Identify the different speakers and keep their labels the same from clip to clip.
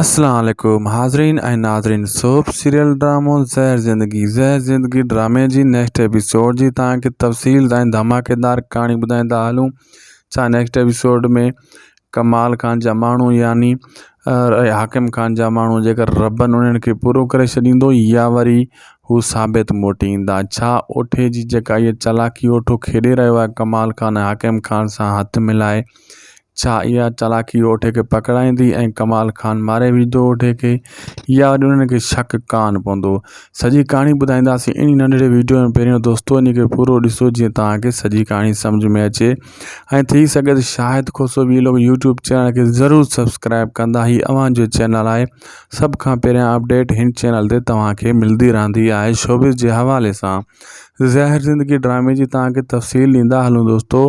Speaker 1: اسلام عليڪم حاضرين ۽ ناظرين سوپ سيريل ڊرامو زهر زندگي زهر زندگي ڊرامي جي نيڪسٽ ايپيسوڊ جي تهان کي تفصيل ۽ ڌماڪيدار ڪهاڻي ٻڌائيندا هلون ڇا نيڪسٽ ايپيسوڊ ۾ ڪمال خان جا ماڻهو يعني حاڪم خان جا ماڻهو جيڪر ربن انهن کي پورو ڪري ڇڏيندو يا وري هو ثابت موٽي ايندا ڇا اوٺي جي جيڪا هي چالاڪي اوٺو کيڏي رهيو آهي ڪمال خان حاڪم خان سان هٿ ملائي ڇا اها چالاڪي اوٺي کي پڪڙائيندي ۽ ڪمال خان ماري وجهندو اوٺي کي يا اڄ انهن کي شڪ ڪان پوندو سڄي ڪهاڻي ٻڌائينداسين انهي ننڍڙي ويڊيو ۾ پهريون دوستو انهي کي پورو ڏسو جيئن توهان کي سڄي ڪهاڻي سمجھ ۾ اچي ۽ ٿي سگهي ته Shahid Khoso vlog YouTube channel کي ضرور سبسڪرائب ڪندا هي اوهان جو چينل آهي سڀ کان پهريان اپڊيٽ هن چينل تي توهان کي ملدي رهندي آهي شوبز جي حوالي سان زهر زندگي ڊرامي جي توهان کي تفصيل ڏيندا هلون دوستو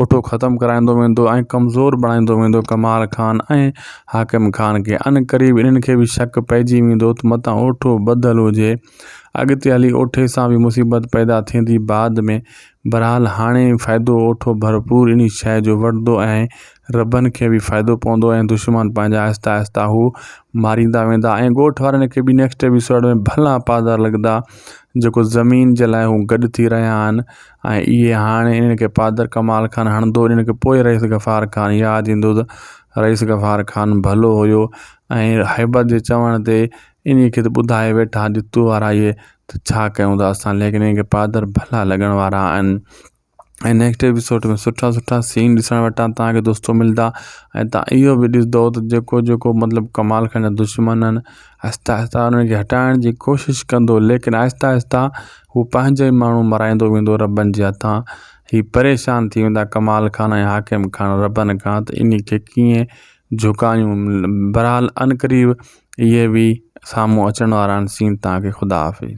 Speaker 1: اوٺو ختم ڪرائيندو ويندو ۽ ڪمزور بڻائيندو ويندو ڪمال خان ۽ حاڪم خان کي عنقريب انهن کي به شڪ پئجي ويندو ته متان اوٺو ٻڌل هجي اڳتي هلي اوٺي سان به مصيبت پيدا ٿيندي بعد ۾ بهرحال هاڻي فائدو اوٺو ڀرپور انهي شيء جو وٺندو ۽ ربن کي به فائدو پوندو ۽ دشمن پنهنجا آهستي آهستي هو ماريندا ويندا ۽ ڳوٺ وارن کي به نيڪسٽ ايپيسوڊ ۾ ڀلا پادار لڳندا جيڪو زمين جي لاء هو گڏ ٿي رهيا آهن ۽ اهي هاڻي انهن کي پادر ڪمال خان هڻندو انهن کي پوء رئيس غفار خان ياد ايندو ته رئيس غفار خان ڀلو هيو ۽ هيبت جي چوڻ تي انهي کي ته ٻڌائي ويٺا جو تو وارا اهي ته ڇا ڪيون ٿا اسان ليڪن انهن کي پادر ڀلا لڳڻ وارا آهن ۽ نيڪسٽ ايپيسوڊ ۾ سٺا سٺا سين ڏسڻ وٽان توهان کي دوستو ملدا ۽ توهان اهو به ڏسندو ته جيڪو جيڪو مطلب ڪمال خان جا دشمن آهن آهستي آهستي انهن کي هٽائڻ جي ڪوشش ڪندو ليڪن آهستي آهستي هو پنهنجا ئي ماڻهو مرائيندو ويندو ربن جي هٿان. هي پريشان ٿي ويندا ڪمال خان ۽ حاڪم خان ربن کان ته انهي کي ڪيئن جهڪايون. بهرحال عنقريب اهي به سامهون اچڻ وارا آهن سين توهان کي خدا حافظ.